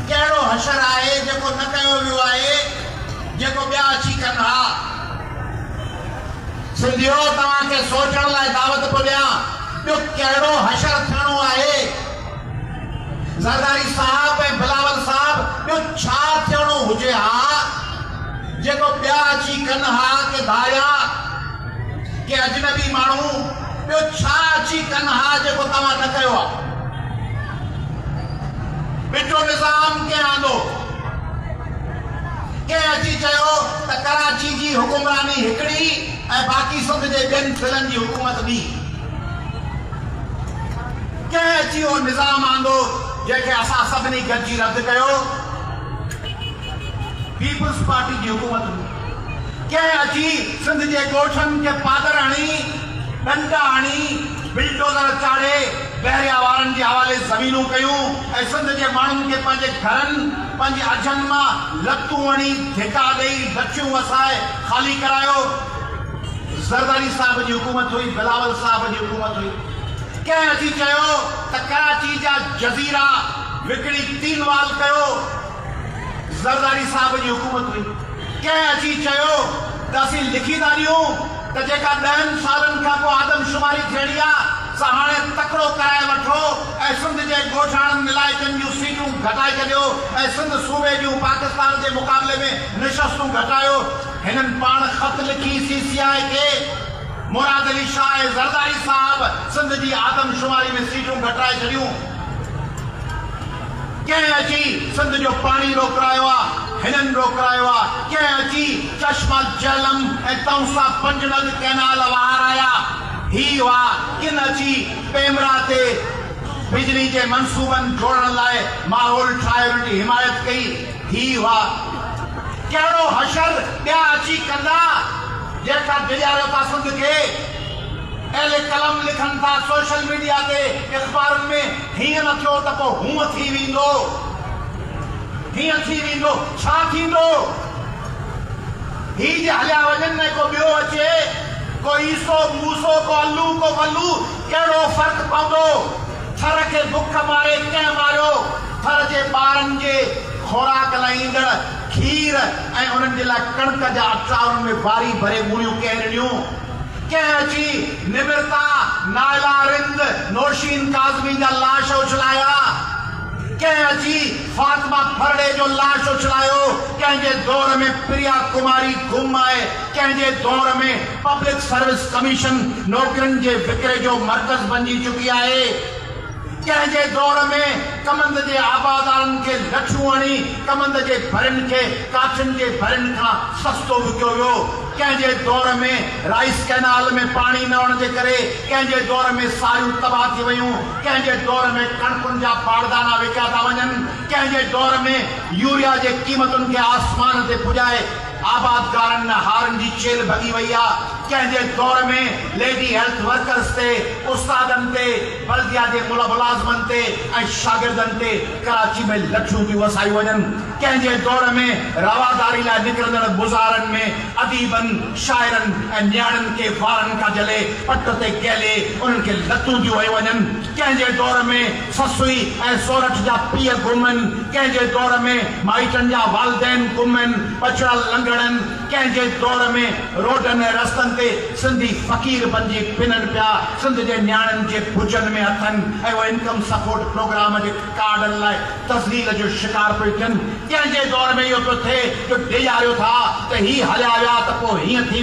ڪهڙو حشر آهي جيڪو نه ڪيو ويو آهي جيڪو ٻيا اچي ڪن ها. سنڌيو توهان کي سوچڻ لاء دعوت پيو ڏيان ٻيو ڪهڙو حشر ٿيڻو آهي. زرداري صاحب ۽ بلاول صاحب ٻيو ڇا ٿيڻو هجي ها جيڪو ٻيا اچي ڪن ها ڪي ڌاريا ڪي اجنبي ماڻهو. ٻيو ڇا اچي ڪن ها جيڪو توهان نه ڪيو آ. ڀٽو نظام ڪنهن آندو؟ ڪنهن اچي چيو ته ڪراچي جي حڪمراني هڪڙي ۽ باقي سنڌ جي ٻين ضلعن جي حڪومت ٻي؟ ڪنهن اچي اهو نظام آندو جنهن کي اسان سڀني گڏجي رد ڪيو؟ پيپلز پارٽي جي حڪومت ڪنهن اچي سنڌ جي ڳوٺن کي پاتر هڻي، ڏنڊا هڻي، بلڊوزر چاڙهي بحريا وارن جي حوالي زمينون ڪيون ۽ سنڌ جي ماڻهن کي پنهنجي گهرن، پنهنجي اجهن مان لتون وڻي، ڌڪا ڏئي، لٺيون وسائي خالي ڪرايو. زرداري صاحب جي حڪومت هئي، بلاول صاحب جي حڪومت هئي. ڪنهن اچي چيو ته ڪراچي جا جزيرا وڪڻي تين وال ڪيو. زرداري صاحب جي حڪومت هئي، ڪنهن اچي چيو ته اسين لکي ٿا ڏيون ته جيڪا ڏهن سالن کان پوء آدم شماري ٿيڻي آ سا هاڻي تڪڙو ڪرائي وٺو ۽ سنڌ جي ڳوٺاڻن علائقن جون سيٽون گهٽائي ڇڏيو ۽ سنڌ صوبي جون پاڪستان جي مقابلي ۾ نشستون گهٽايو هنن پاڻ خط لکي سي سي آء کي مراد علي شاهه ۽ زرداري صاحب سنڌ جي آدم شماري ۾ سيٽون گهٽرائي ڇڏيون. ڪنهن اچي سنڌ جو پاڻي روڪرايو آ، هنن روڪرايو آ، ڪنهن اچي چشمه جهلم ۽ تئونسا پنجڙڳ ڪئنال وهارايا، هي هئا، ڪن اچي پيمرا تي بجلي جي منصوبن جوڙڻ لاء ماحول ٺاهي انهن جي حمايت ڪئي، هي هئا، ڪهڙو حشر ٻيا اچي ڪندا، جيڪا ڊيڄاريو ٿا سنڌ کي، اهل قلم لکن ٿا سوشل ميڊيا تي، اخبارن ۾. هيئن نه ٿيو ته پوء هونء ٿي ويندو، هيئن ٿي ويندو، ڇا ٿيندو؟ هي جي هليا وڃن ۽ ڪو ٻيو اچي، ڪو عيسو، موسو، ڪو الو، ڪو ولو، ڪهڙو فرق پوندو؟ ٿر کي بک ماري ڪنهن ماريو؟ ٿر جي ٻارن جي خوراڪ لاء ايندڙ کير ۽ انهن جي لاء ڪڻڪ جا اٽا، انهن ۾ واري ڀري ڳوڻيون ڪنهن رڙيون؟ ڪنهن جي نمرتا، نائلا رند، نوشين ڪاظمي جا لاش اڇلايا، ڪنهن جي فاطمه ڦرڙي جو لاش اڇلايو، ڪنهن جي دور ۾ پريا ڪماري گم آهي، ڪنهن جي دور ۾ پبلڪ سروس ڪميشن نوڪرين جي وڪري جو مرڪز بنجي چڪي آهي، ڪنهن جي دور ۾ ڪمند جي آبادارن کي لٺيون هڻي ڪمند جي ڀرين کي ڪاٺين جي ڀرين کان سستو وڪيو ويو. ڪنهن جي دور ۾ رائيس ڪئنال ۾ پاڻي نه هئڻ جي ڪري ڪنهن جي دور ۾ ساريون تباهه ٿي ويون، ڪنهن جي دور ۾ ڪڻڪن جا باردانا وڪيا ٿا وڃن، ڪنهن جي دور ۾ يوريا جي قيمتن کي آسمان تي پڄائي آبادگارن ۾ هارن جي ڇيل ڀڳي وئي آ، ڪنهن جي دور ۾ ليڊي هيلٿ ورڪرز تي، استادن تي، بلديا جي ملازمن تي ۽ شاگردن تي ڪراچي ۾ لٺيون ٿيون وسايون وڃن. ڪنهن جي دور ۾ رواداري لاء نڪرندڙ مظاهرن ۾ اديبن، شاعرن ۽ نياڻين کي وارن کان جهلي پٽ تي ڪهلي انهن کي لتون ڏيون هيون وڃن، ڪنهن جي دور ۾ سسئي ۽ سورٺ جا پيء گم هن، ڪنهن جي دور ۾ مائٽن جا والدين گم هن، ٻچڙا لنگڙن، ڪنهن جي دور ۾ روڊن ۽ رستن تي سنڌي فقير بنجي ڦنن پيا، سنڌ جي نياڻين جي ڀجن ۾ هٿن ۽ اهو انڪم سپورٽ پروگرام جي. ڪارڊن لاء تذليل جو شڪار پيو ٿين، تنهن جي دور ۾ اهو پيو ٿئي جو ڊيڄاريو ٿا ته هي هليا ويا ته پوء هيئن ٿي